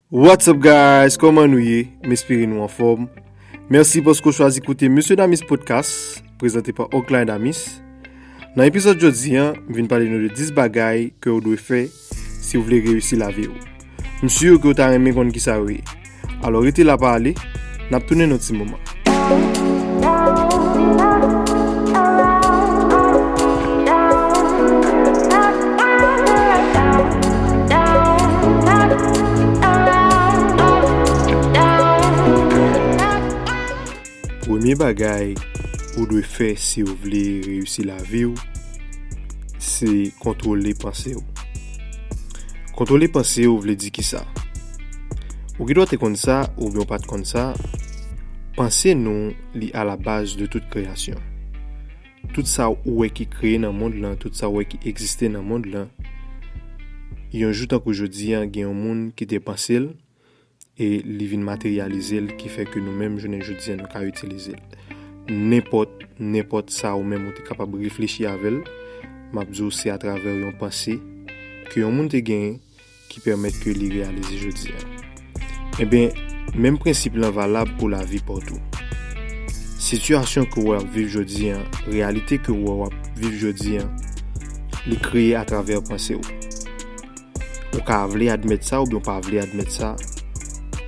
What's up guys kòman nou ye m espere nou anfòm mèsi paske w chwazi koute Mesye Damis Podcast prezante pa Ocline Damis nan epizòd jodi an m vin pale nou de 10 bagay ke w dwe fè si w vle reyisi lavi w m sur ke w ta renmen konn kisa yo ye alò rete la pa ale N ap tounen yon ti moman. Premye bagay ou dwe fè si ou vle reyisi lavi ou, se kontwole panse ou. Kontwole panse ou vle di ki sa? Ou gen dwa te konn sa oubyen ou pa t konn sa, panse nou li alabaz de tout kreyasyon. Tout sa ou wè ki kreye nan mond lan, tout sa ou wè ki egziste nan mond lan, yon jou tankou jodi an gen yon moun ki te panse l e li vin materyalize l ki fè ke nou menm jounen jodi an nou ka itilize l. Nenpòt, nenpòt sa ou menm ou te kapab reflechi avè l, m ap di w se atravè yon panse ke yon moun te genyen ki pèmèt ke li reyalize jodi a. Enben, menm prensip lan valab pou lavi pa w tou. Sitiyasyon ke wè w ap viv jodi a, reyalite ke wè w ap viv jodi a, li kreye atravè panse w. Ou ka vle admèt sa oubyen w pa vle admèt sa,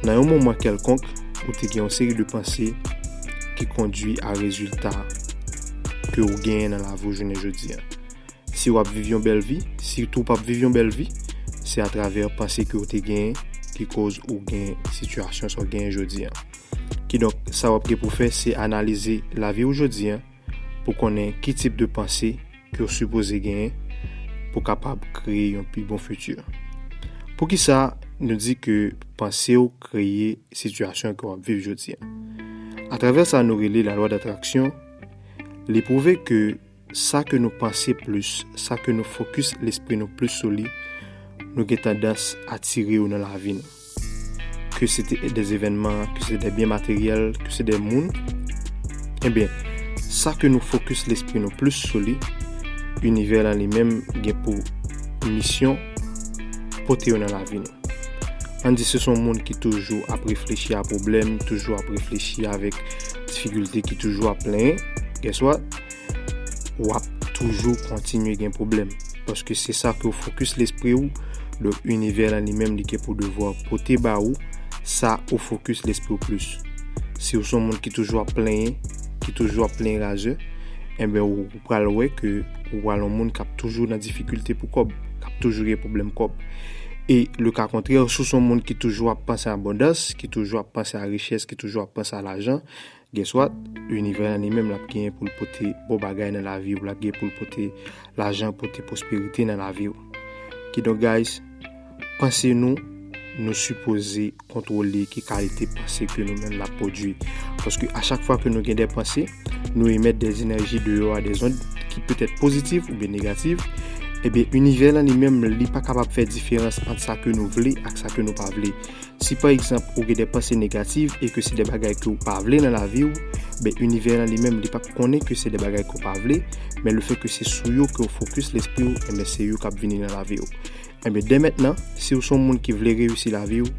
nan yon moman kèlkonk, ou te gen yon seri de panse ki kondwi a rezilta ke w genyen nan lavi w jounen jodi a. Si wap viv yon bèl vi, si tou pap viv yon bèl vi, se atravè panse ke ou te genyen ki koz ou gen sitiyasyon sa ou genyen jodi an. Kidonk, sa wap gen pou fè se analize lavi ou jodi an pou konnen ki tip de panse ke ou sipoze genyen pou kapab kreye yon pi bon fiti. Poukisa nou di ke panse ou kreye sitiyasyon ke wap viv jodi an? Atravè sa nou rele la lwa datraksyon, li pwouve ke Sa ke nou panse plis, sa ke nou fokis lespri nou plis sou li, nou gen tandans atire yo nan lavi nou. Ke se te de evènman, ke se de byen materyèl, ke se de moun, enben, sa ke nou fokis lespri nou plis sou li, inivè lan li menm gen pou misyon pote yo nan lavi nou. An di se son moun ki toujou ap reflechi a pwoblèm, toujou ap reflechi avèk difikilte, ki toujou ap plenyen, guess what? w ap toujou kontinye gen pwoblèm. Paske se sa ke w fokis lespri w, donk inivè lan li menm li gen pou devwa pote ba ou sa ou fokis lespri w plis. Si w se yon moun ki toujou ap plenyen, ki toujou ap plenyen razè, enben ou pral wè ke ou pral yon moun k ap toujou nan difikilte pou kòb, k ap toujou gen pwoblèm kòb. E le ka kontrè, si w se yon moun ki toujou ap panse abondans, ki toujou ap panse a richès, ki toujou ap panse a lajan, Guess what? Univè an li menm lap genyen poul pote bon bagay nan laviw, lap genyen poul pote lajan, pote pwosperite nan laviw. Kidonk guys, panse nou, nou sipoze kontwole ki kalite panse ke nou menm nap pwodwi. Paske a chak fwa ke nou gen de panse, nou emèt de enèji deyò a, de zond ki petèt pozitiv oubyen negativ, ebyen univè lan li menm li pa kapab fè diferans ant sa ke nou vle ak sa ke nou pa vle. Si pa egzanp ou gen de panse negativ e ke se de bagay ke ou pa vle nan lavi ou, ben inivè lan li menm li pap konnen ke se de bagay ke ou pa vle, men le fè ke se sou yo ke ou fokis lespri ou enben se yo kap vini nan lavi ou. Enben dè mentnan, si ou se yon moun ki vle reyisi lavi ou,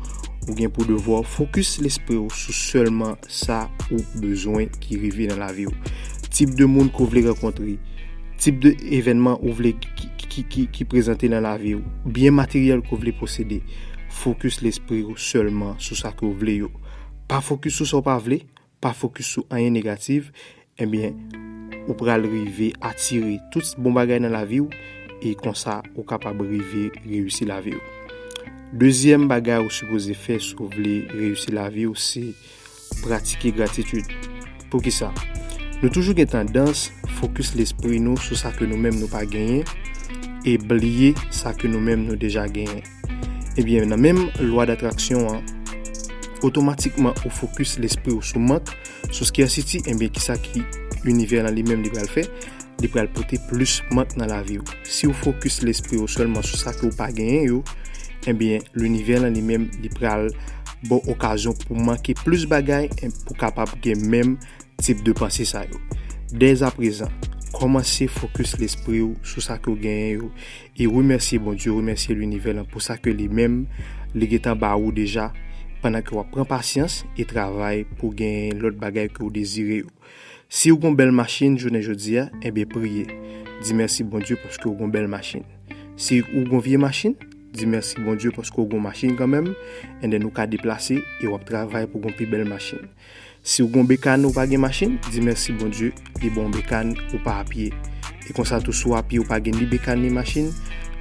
ou gen pou devwa ou fokis lespri ou sou sèlman sa ou bezwen ki rive nan lavi ou. Tip de moun ke ou vle rankontre, tip de evènman ou vle ki prezante nan lavi ou, byen materyèl ke ou vle posede, fokis lespri ou sèlman sou sa ke w vle yo. Pa fokis sou sa w pa vle, pa fokis sou anyen negatif, ebyen ou pral rive atire tout bon bagay nan lavi w e konsa ou kapab rive reyisi lavi w. Dezyèm bagay ou sipoze fè si w vle reyisi lavi w se Pratike gratitid. Poukisa? Nou toujou gen tandans fokis lespri nou sou sa ke nou menm nou pa genyen e bliye sa ke nou menm nou deja genyen. Ebyen, nan menm lwa datraksyon an, otomatikman ou fokis lespri ou sou mank, sou scarcity, ebyen kisa ki inivè lan li menm li pral fè? Li pral pote plis mank nan lavi ou. Si ou fokis lespri ou sèlman sou sa ke ou pa genyen yo, ebyen linivè lan li menm li pral. baw okazyon pou manke plis bagay en pou kapab gen menm tip de panse sa yo. Dèz aprezan, kòmanse fokis lespri w sou sa ke w genyen yo e remèsye Bondye, remèsye linivè lan pou sa ke li menm li gentan ba ou deja pandan ke wap pran pasyans e travay pou genyen lòt bagay ke w dezire yo. Si ou gon bèl machin jounen jodia enben priye di mèsi Bondye paske ou gon bèl machin si ou gon vye machin di mèsi Bondye paske ou gon machin kanmenm enben ou ka deplase e wap travay pou gon pi bèl machin si ou gon bekàn ou pa gen machin di mèsi Bondye li baw bekàn ou pa apye. E konsa tou sou apye ou pa gen ni bekàn ni machin,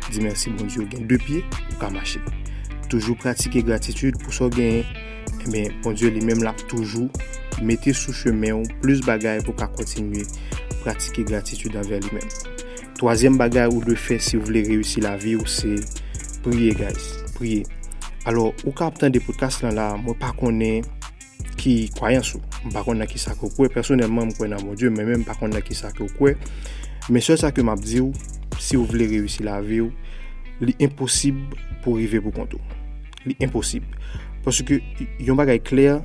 di mèsi Bondye ou gen 2 pye, ou ka mache. Toujou pratike gratitid pou sa w genyen, enben Bondye li menm l ap toujou mete sou chemen ou plis bagay pou w ka kontinye pratike gratitid anvè li menm. Twazyèm bagay ou dwe fè si ou vle reyisi lavi ou se priye guys, priye. Alò ou ka ap tande podcast lan la, mwen pa konnen. Ki kwayans ou? M pa konn nan kisa ke w kwè. Pèsonèlman, m kwè nan Bondye, men menm pa konn nan kisa ke w kwè. Men sèl sa ke m ap di w, si w vle reyisi lavi w, li enposib pou w rive pou kont ou. Li enposib. Paske, yon bagay klè,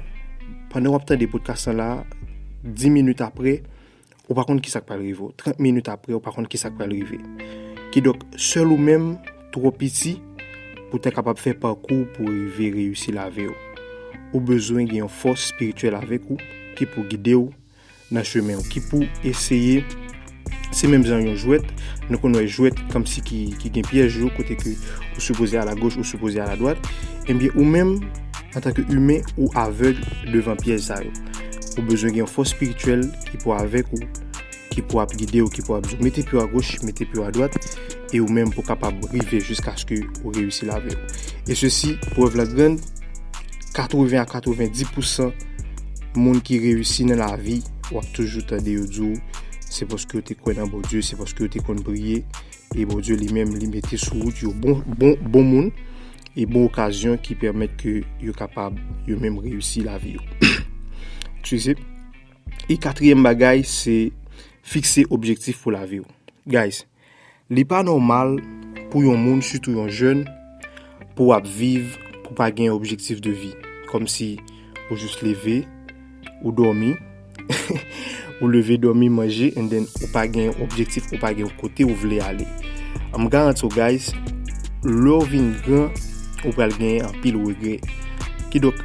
pandan w ap tande podcast lan la, 10 minit apre, ou pa konn ki sa k pral rive w. 30 minit apre, ou pa konn ki sa k pral rive. Kidonk, sèl ou menm twò piti pou w ta kapab fè pakou pou w rive reyisi lavi w. Ou bezwen gen yon fòs espirityèl avèk ou ki pou gide w nan chemen w, ki pou eseye. Se menm jan yon jwèt, nou konn wè jwèt kòmsi ki gen pyèj yo kote ke ou sipoze alagoch, ou sipoze aladwat. Ebyen, ou menm. Antanke imen, ou avèg devan pyèj sa yo. Ou bezwen gen yon fòs espirityèl ki pou avèk ou, ki pou ap gide ou, ki pou ap di ou mete pye w agoch, mete pye w adwat, e ou menm pou kapab rive jiskaske ou reyisi lavi w. E sesi, prèv la grann, 80 a 90 pousan moun ki reyisi nan lavi, w ap toujou tande yo di w, se paske yo te kwè nan Bondye, se paske yo te konn priye, E Bondye li menm li mete sou wout yo bon, bon, bon moun e bon okazyon ki pèmèt ke yo kapab yo menm reyisi lavi yo. Ekswize. E katriyèm bagay se fikse objektif pou lavi yo. Guys, li pa nòmal pou yon moun, sitou yon jèn, pou w ap viv pou pa gen objektif de vi. Kòm si ou jis leve, ou dòmi, ou leve, dòmi, manje, and then ou pa gen objektif, ou pa gen kote ou vle ale. Am garanti ou guys, lè ou vin gran, ou pral gen anpil regre. Kidonk,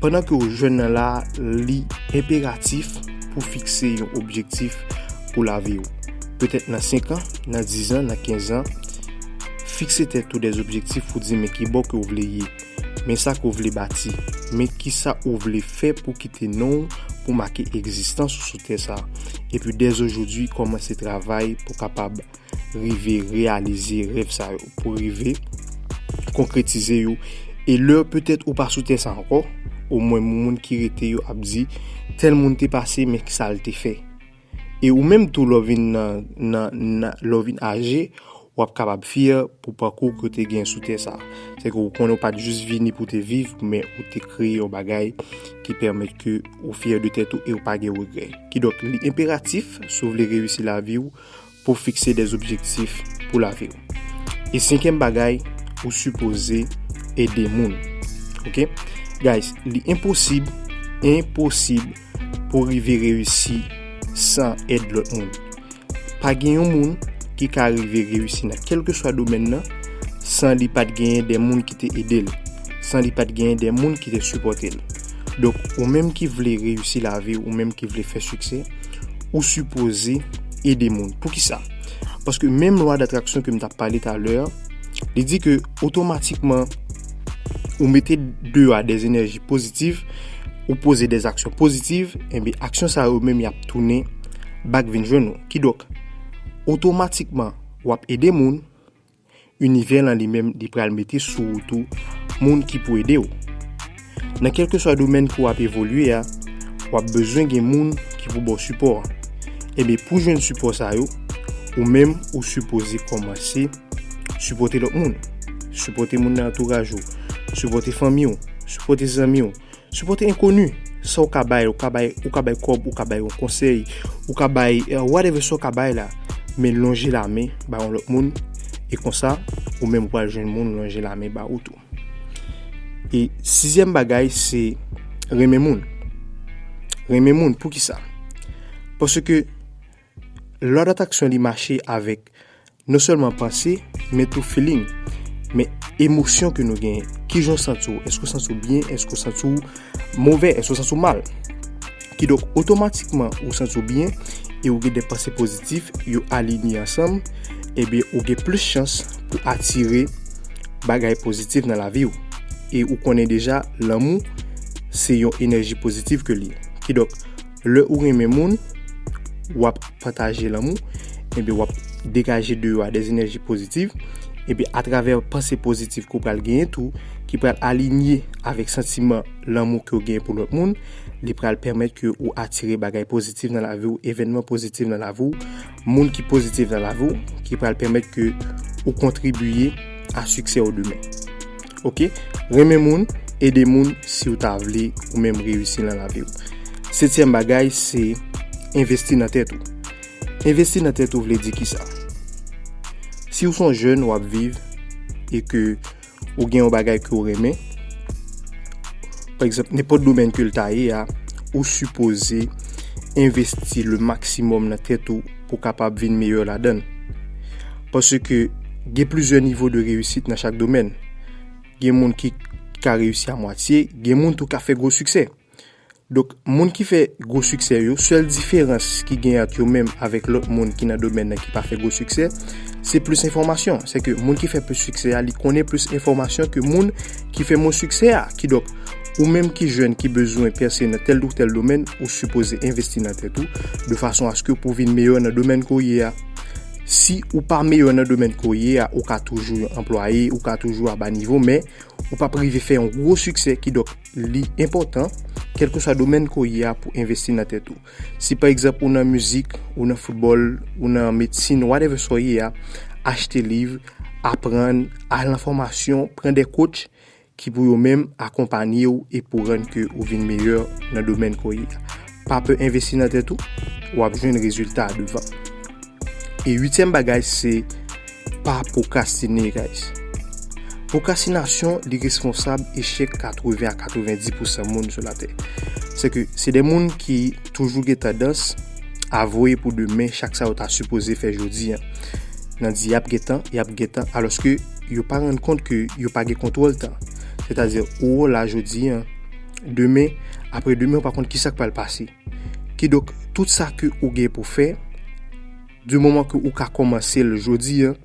pandan ke ou jwenn nan la, li imperatif pou fikse yon objektif pou lavi ou. Petèt nan 5 an, nan 10 an, nan 15 an, Fikse tèt ou de objektif ou di men kibò ke ou vle ye, men sa ke ou vle bati, men kisa ou vle fè pou kite non ou, pou make egzistans ou sou tè sa. Epi dèzojodi kòmanse travay pou kapab rive reyalize rèv sa yo, pou rive konkretize yo. E lè petèt ou pa sou tè sa ankò, omwen moun ki rete yo ap di tèl moun te pase men kisa l te fè. E ou menm tou lè w vin nan nan nan lè w vin aje w ap kapab fyè pou pakou ke w te gen sou tè sa a. Se ke w konnen w pa t jis vini pou w te viv men ou te kreye yon bagay ki pèmèt ke ou fyè de tèt ou e ou pa gen regrè. Kidonk li enperatif si w vle reyisi lavi w, pou fikse des objektif pou lavi ou. E senkyèm bagay, ou sipoze ede moun. Ok? Guys, li enposib, enposib pou rive reyisi san ed lot moun. Pa gen yon moun ki ka rive reyisi nan kelke swa domen nan san li pat genyen de moun ki te ede l. San li pat genyen de moun ki te sipote l. Donk, ou menm ki vle reyisi lavi ou, ou menm ki vle fè sikse, ou sipoze ede moun. Pou ki sa? Paske menm lwa datraksyon ke m tap pale talè, li di ke otomatikman ou mete de a de zenerji pozitif, ou pose de aksyon pozitif, enbi eh aksyon sa yo menm yap tounen bak vin jwenn nou. Kidok, otomatikman wap ede moun, Univè lan li menm li pral mete sou wout ou moun ki pou ede w. Nan kèlkeswa domèn ke w ap evolye a, w ap bezwen gen moun ki pou ba w sipò a. Enben, pou jwenn sipò sa yo, ou menm ou sipoze kòmanse sipòte lòt moun. Sipòte moun nan antouraj ou, sipòte fanmi w, sipòte zanmi w, Supporte enkoni, sa ou ka bay, ou ka bay, ou ka bay kob, ou ka bay yon konsey, ou ka bay, eh, whatever sa ou ka bay la, men lonje la men ba yon lot moun, e konsa, ou menm ou pral jwenn moun lonje la men ba ou tou. E sizyèm bagay se renmen moun. Renmen moun, poukisa? Paske, Law of attraction li mache avèk non sèlman panse men tou feeling men emosyon ke nou genyen kijan w santi w èske w santi w byen èske w santi w movè èske w santi w mal kidonk otomatikman ou santi w byen e ou gen de panse pozitif yo alinye ansanm ebyen ou gen plis chans pou atire bagay pozitif nan lavi w e ou konnen deja lanmou se yon enèji pozitif ke li ye kidonk Lè ou renmen moun, wap pataje lanmou, epi wap degaje de yo a de enèji pozitiv, epi atravè panse pozitiv ke w pral genyen tou, ki pral alinye avèk santiman lanmou ke w genyen pou lòt moun, li pral pèmèt ke ou atire bagay pozitiv nan lavi w, evènman pozitiv nan lavi w. Moun ki pozitif nan lavi w ki pral pèmèt ke ou kontribiye a siksè w demen. Ok, renmen moun, ede moun si w ta vle ou menm reyisi nan lavi w. Setyèm bagay se envesti nan tèt ou. Envesti nan tèt ou vle di ki sa? Si w son jèn w ap viv e ke ou gen yon bagay ke ou renmen, pa egzanp, nenpòt domèn ke l ta ye a, ou sipoze envesti le maksimòm nan tèt ou pou kapab vin meyè ladan l. Paske gen plizyè nivo de reyisit nan chak domèn. Gen moun ki ka reyisi a mwatye, gen moun tou ka fè gwo siksè. Donk moun ki fè gwo siksè yo, sèl diferans ki gen ant yo menm avèk lòt moun ki nan domèn nan ki pa fè gwo siksè, se plis enfòmasyon. Sèke moun ki fè plis siksè a, li konnen plis enfòmasyon ke moun ki fè mwen siksè a. Kidonk, ou menm ki jèn ki bezwen pèse nan tèl ou tèl domèn, ou sipoze envesti nan tèt ou, de fason aske pou vin meyè nan domèn ke w ye a. Si ou pa meyè nan domèn ke w ye a, ou ka toujou yon anplwaye, ou ka toujou a ba nivo, men, ou pap rive fè yon gwo siksè, kidonk. Li enpòtan, kèlkeswa domèn ke w ye a, pou w envesti nan tèt ou. Si pa egzanp ou nan mizik, ou nan foutbòl, ou nan medsin, whatever sa w ye a, achte liv, aprann, al nan fòmasyon, pran de coach ki pou yo menm akonpanye w e pou rann ke ou vin meyè nan domèn ke w ye a. Pa pe envesti nan tèt ou, wap jwenn rezilta a devan. E uityèm bagay se pa pwokrastine guys. Pwokrastinasyon li responsab echèk 80 a 90 pousan moun sou latè. Se ke se de moun ki toujou gen tandans a voye pou demen chak sa yo ta sipoze fè jodi an. Nan di yap gen tan, yap gen tan alòske yo pa rann kont ke yo pa gen kontwòl tan. Sètadi ou la jodi an. demen, apre demen ou pa konn kisa k pral pase. Ki dok, tout sa ke ou gen pou fè, di moman ke ou ka komanse l jodi an,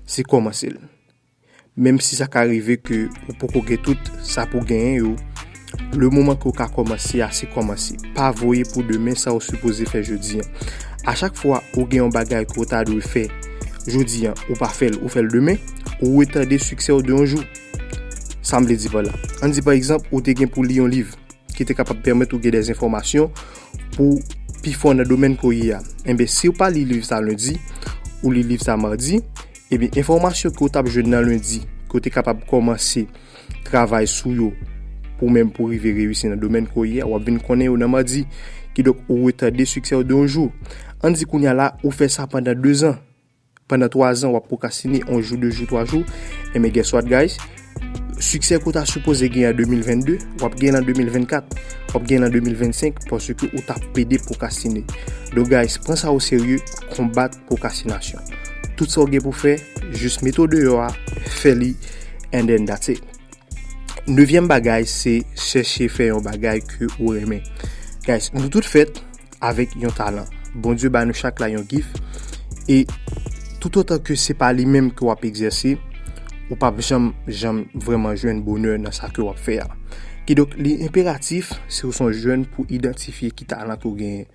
se komanse l. Menm si sa ka rive ke ou poko gen tout sa pou genyen yo, le moman ke ou ka komanse a, se komanse. Pa voye pou demen sa ou sipoze fè jodi an. A chak fwa ou gen yon bagay ke ou ta dwe fè jodi an, ou pa fè l, ou fè l demen, ou retade siksè ou de yon jou. Sa m vle di pa la, an n di pa egzanp ou te gen pou li yon liv ki te kapab pèmèt ou gen de enfòmasyon pou pi fò nan domèn ke w ye a. Enben, si w pa li liv sa lendi, ou li liv sa madi, enben enfòmasyon ke w t ap jwenn nan lendi, ke w te kapab kòmanse travay sou yo pou menm pou rive reyisi nan domèn ke w ye a, w ap vin konnen yo nan madi. Kidonk, ou retade siksè w de yon jou. An n di kounye a la, ou fè sa pandan dezan. Pandan 3 zan wap pwokrastine on jou 2 jou 3 jou Enben guess what guys Siksè ke w ta sipoze gen an 2022 wap gen l an 2024 Wap gen l an 2025 paske ou ta pede pwokrastine Donk guys pran sa o serye Konbat pwokrastinasyon Tout sa w gen pou w fè jis mete w deyò a fè li and then that's it Nevyèm bagay se chèche fè yon bagay ke ou renmen Guys nou tout fèt avèk yon talan. Bondye ba nou chak la yon gif e toutotan ke se pa li menm ke w ap egzèse, ou p ap janm janm vrèman jwenn bonè nan sa ke w ap fè a. Kidonk, li enperatif, si ou se yon jèn, pou idantifye ki talan ke ou genyen.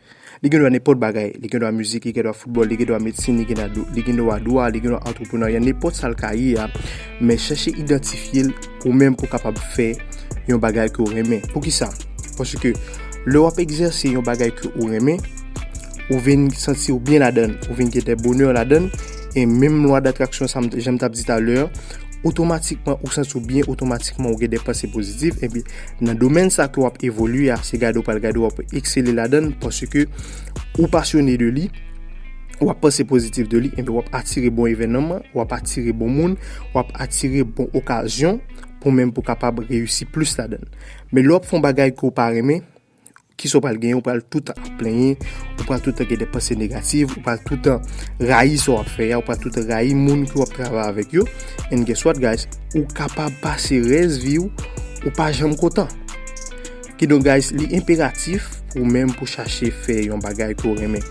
Li gendwa nenpòt bagay. Li gendwa mizik, li gendwa foutbòl, li gendwa medsin, li gendwa dwa, li gendwa antreprenarya, nenpòt sa l ka ye a, men chèche idantifye l. Ou menm pou kapab fè yon bagay ke ou renmen. Pou ki sa? Pwosye ke lè wap egzèse yon bagay ke ou renmen, ou vin santi ou byen ladan, ou vin gètè bonè ladan, e menm lwa datraksyon sa jèm tap di talè, otomatikman ou santi ou byen, otomatikman ou gen de panse pozitif, e bi nan domèn sa ke wap evolye a, se gade ou pal gade wap eksele ladan, pwosye ke ou pasyone de li. w ap panse pozitif de li, enben w ap atire bon evènman, w ap atire bon moun, w ap atire bon okazyon pou menm pou kapab reyisi plis ladan. Men lè w ap fè yon bagay ke w pa renmen, ki sa w pral genyen? Ou pral toutan ap plenyen, ou pral toutan gen de panse negatif, ou pral toutan rayi sa w ap fè a, ou pral toutan rayi moun ke w ap travay avèk yo. And guess what guys? Ou kapab pase rès vi w, ou pa janm kontan. Kidonk guys li enperatif pou ou menm pou chache fè yon bagay ke w renmen.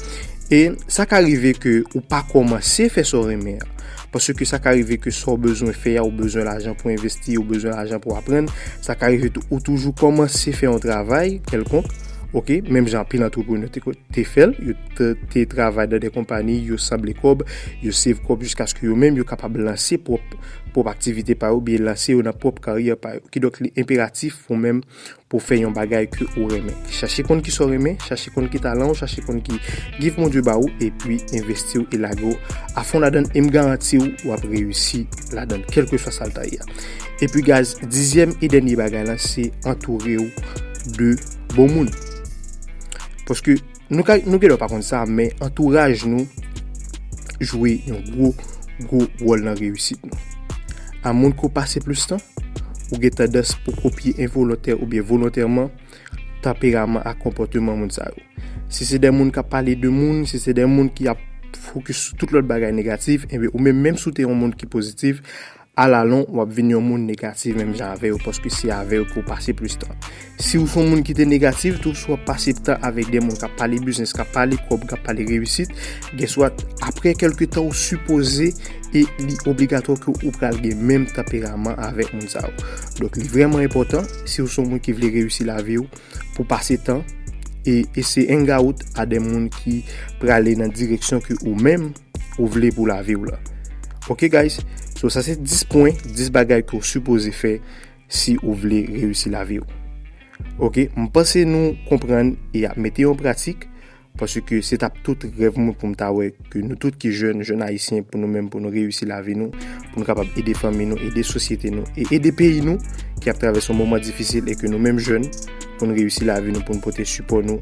E sa ka rive ke ou pa kòmanse fè sa w renmen an. Paske sa ka rive ke sa w bezwen fè a, ou bezwen lajan pou envesti, ou bezwen lajan pou aprann. Sa ka rive tou ou toujou kòmanse fè yon travay kèlkonk, ok, menm jan anpil antreprenè te fè l, yo te travay nan de konpani, yo sanble kòb, yo save kòb jiskaske yo menm yo kapab lanse pwòp aktivite pa yo oubyen lanse yo nan pwòp karyè pa yo. Kidonk li enperatif pou ou menm pou fè yon bagay ke ou renmen. Chache konn ki sa ou renmen, chache konn ki talan ou, chache konn ki gif Bondye ba ou, epi envesti ou e lage ou afon ladann e m garanti ou wap reyisi ladann kèlkeswa sa l ta ye a. Epi gaz, dizyèm e dènye bagay lan se antoure ou de bon moun. Paske. Nou ka, nou genlè pa konn sa, men antouraj nou jwe yon gwo, gwo wòl nan reyisit nou. A moun ko pase plis tan, ou gen tandans pou kopye envolontè oubyen volontèman tanperaman ak konpòteman moun sa yo. Si se de moun k ap pale de moun, si se de moun ki ap fokis sou tout lòt bagay negatif, enben ou menm, menm si w te yon moun ki pozitif, A la lon, w ap vin yon moun negatif menm jan avè yo paske se avè yo pou w pase plis tan. Si w se yon moun ki te negatif tou, si w ap pase tan avèk de moun k ap pale biznis, k ap pale kòb, k ap pale reyisit, gèswat, apre kèlke tan ou sipoze e li obligatwa ke ou pral gen menm tanperaman avèk moun sa yo. Donk li vrèman enpòtan, si w se yon moun ki vle reyisi lavi w, pou w pase tan e ese engawout a de moun ki prale nan direksyon ke ou menm, Ou vle pou lavi w la ok guys so sa se 10 pwen 10 bagay ke w sipoze fè si ou vle reyisi lavi w ok m panse nou konprann e ap mete yon pratik paske se tap tout rèv mwen pou m ta wè ke nou tout ki jèn jèn ayisyen pou nou menm pou nou reyisi lavi nou pou nou kapab ede fanmi nou ede sosyete nou e ede peyi nou ki ap travèse yon moman difisil e ke nou menm jèn pou nou reyisi lavi nou pou nou pote sipò nou